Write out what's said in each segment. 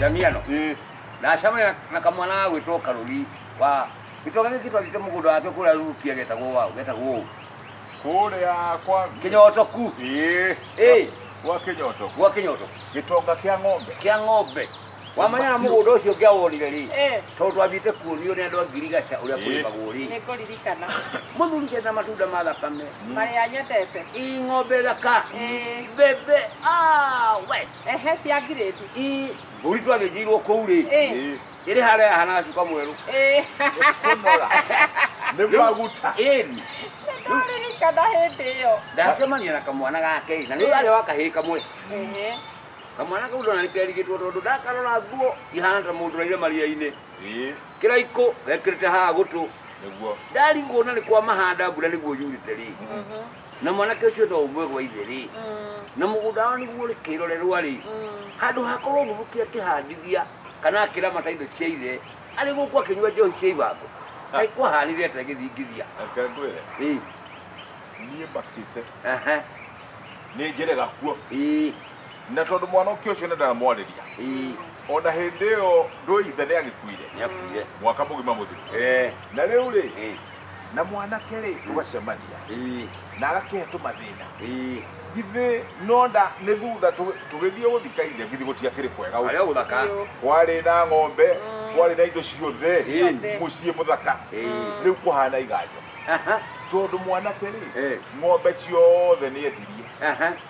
Jamia no. Eh. Na shama na, na kamwana wa gwitwo Karuri wa gitoga giki twathiĩte mũgũnda wake kũrĩa ruki agetagwo wao getagwo ũũ. Kũrĩa kwa Kĩnyotoku Eh. Eh. Kwa kĩnyoto. gwa kĩnyoto Gĩtonga kĩa ng'ombe. kĩa ng'ombe wamanya na mũgũnda ũcio ngĩawonire rĩ Eh. tondũ twathiĩte kuonio nĩ andũ a ngirigaca ũrĩa Eh. kũrĩmagwo rĩ nĩ kũririkana mũthuri kenda matunda ma thakame marĩa nyendete ii ng'ombe thaka Eh. mbembe ah, we Ehe cia ngirĩndi. Ii, mbũri twagĩnjĩirwo kũu rĩ Ĩ. ĩrĩ harĩa yahanaga cuka mwerũ Ĩ. kũnora nĩ maguta ĩni Nĩndaririkana hĩndĩ ĩyo. ndacemania na kamwana gake na nĩ arĩa wa kahĩĩ kamwe Ehe. kamwana kau ndona nĩ kerigĩtwo tondũ ndakarora nguo ihana ta mũndũ ũraire maria-inĩ Ĩ, kĩraikũ gekĩrĩte haha gũtũ nĩguo ndarigwo na nĩ kwa mahanda mbura nĩguo yurĩte rĩ Mhm. na mwanake ũcio no ũmwe gwa ithe-rĩ na mũgũnda wao nĩguo ũrĩ kĩrorerwa-rĩ handũ hakorwo mũthuki akĩhandithia kana akĩramata indo cia ithe arĩ gũkũ akĩnyua njohi cia ibango kaĩ kwahanire atĩa gĩthingithia reke ngwĩre Ĩĩ, niĩ makĩte aha, nĩ njĩrega kuo ĩĩ, na tondũ mwanake ũcio nĩ ndamwarĩria ĩĩ, ona hĩndĩ ĩyo ndũithe nĩ agĩkuire nĩakuire mwaka mũgima mũthiru Eh, na rĩu rĩ eh, na mwanake rĩ tũgacemania ĩĩ na agakĩhe tũmathĩna ĩĩ githĩ no nda nĩ thutha tũ- tũgĩthiĩ gũthika ithe githĩ gũtiakĩrĩ kwega ũguo? arĩa ũthaka kwarĩ na ng'ombe kwarĩ na indo ciothe Ciothe. mũciĩ mũthaka Ĩĩ. rĩu kũhana iganjo aha tondũ mwanake rĩ Eh. ng'ombe ciothe nĩ endirie aha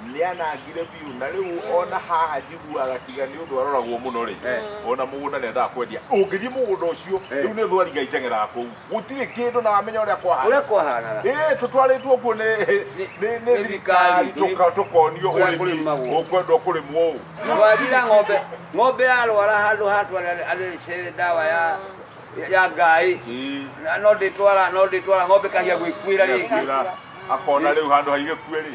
nĩanangire biũ na rĩu ona haha njiguaga tiga nĩ ũndũ aroragwo mũno rĩ Eh. ona mũgũnda nĩendaga kwendia ũngĩthiĩ mũgũnda ũcio Eh. rĩu nĩ thwariga iteng'eraga kũu gũtirĩ kĩndũ na amenya ũrĩa kwahana ũrĩa kwahanaga Ĩĩ, tũtwarĩtwo kuo nĩ nĩ- nĩ nĩ thirikari thirikari, tũka- tũkonio kũrĩa ũrĩmi kũrĩmagwo. ũkwendwo kũrĩmwo ũũ Na wathira ng'ombe ng'ombe yarwara handũ hatwara athece ndawa ya ya ngai Ĩĩ, Na no ndĩtwara no ndĩtwara ng'ombe kahia gwĩkuĩra rĩngĩ ĩakuĩra, akona rĩu handũ haigĩkue rĩ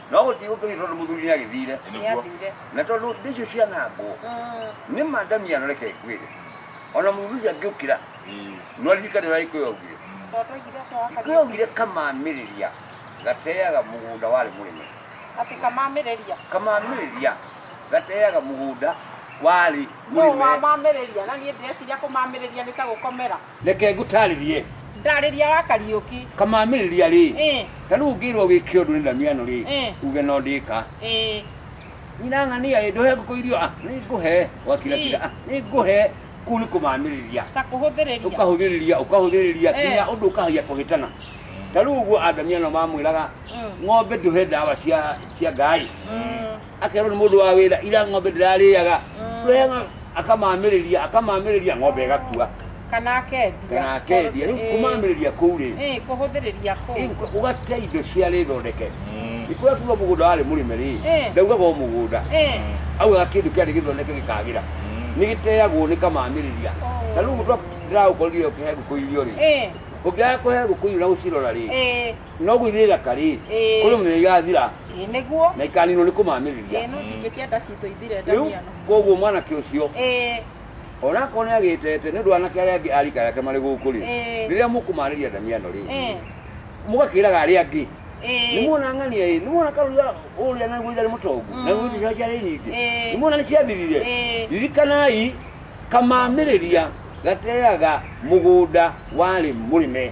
no gũtigũ kĩngĩ tondũ mũthuri nĩ agĩthire Nĩathire. na tondũ ndĩcio cianangwo Mm. nĩ madami yaroreke ngwĩre ona mũthuri ũcio angĩũkĩra no ririkane ũrĩa ikũyũ augire Tondũ aigire atĩa wa ikũyũ Kariuki? augire kamamĩrĩria gateaga mũgũnda warĩ mũrĩme Atĩ kamamĩrĩria. kamamĩrĩria gateaga mũgũnda warĩ Nũũ mũrĩme wamamĩrĩria? Na niĩ ndĩreciria kũmamĩrĩria nĩ ta gũkomera. reke ngũtarĩrie ndarĩria wa kariũki kamamĩrĩria rĩ Ĩ, ta rĩu ngĩrwo wĩke ũndũ nĩ ndamiano rĩ Ĩ. uge no ndĩka ĩ, nyina ng'ania ĩ ndũhe ngũkũ irio ah, nĩ ngũhe gwakirakira Ĩ. ah, nĩ ngũhe kũu nĩ kũmamĩrĩria ta kũhũthĩrĩria ũkahũthĩrĩria ũkahũthĩrĩria Eh. nginya ũndũ ũkahia kũhĩtana ta rĩu ũguo andamiano mamwĩraga Mm. ng'ombe ndũhe ndawa cia cia ngai Mm. akerwo nĩ mũndũ wa wĩra ira ng'ombe ndĩrarĩaga rũheng'a akamamĩrĩria akamamĩrĩria ng'ombe ĩgakua kana akendia kana akendia rĩu Eh, kũmamĩrĩria kũu rĩ eh, kũhũthĩrĩria kũu Inko- ũgate indo cia rĩthondeke ikũrĩa kuga mũgũnda warĩ mũrĩme rĩ Eh. ndaugaga o mũgũnda Eh, augaga kĩndũ kĩarĩ gĩthondeke gĩkagĩra nĩ gĩteagwo nĩ kamamĩrĩria Oh. na rĩu mũndũ ndĩragũkorire ũkĩhe ngũkũ irio rĩ eh, ũngĩaga kũhe ngũkũ irio na gũcirora rĩ eh, no gũithia ithaka rĩ Ĩĩ. kũrĩ mũthenya igathira Ĩĩ, nĩguo na ikaninwo nĩ kũmamĩrĩria Ĩĩ, no ndingĩkĩa nda citũ ithire rĩu ndamiano koguo mwanake ũcio Ĩĩ, onakorwo nĩ agĩtete nĩ ũndũ wa anake arĩa angĩ arika yake marĩ gũkũ rĩ Ĩĩ. rĩrĩa mũkũmarĩria ndamiano rĩ ĩĩ, mũgakĩraga arĩa angĩ ĩĩ. nĩ muona ng'ania ĩ nĩ muona karuga ũrĩa naguo itharĩ mũtongu Mm. naguo indo ciao ciarĩ nyingĩ Ĩĩ. nĩ muona nĩ ciathirire Ĩĩ. ririkanai kamamĩrĩria gateaga mũgũnda warĩ mũrĩme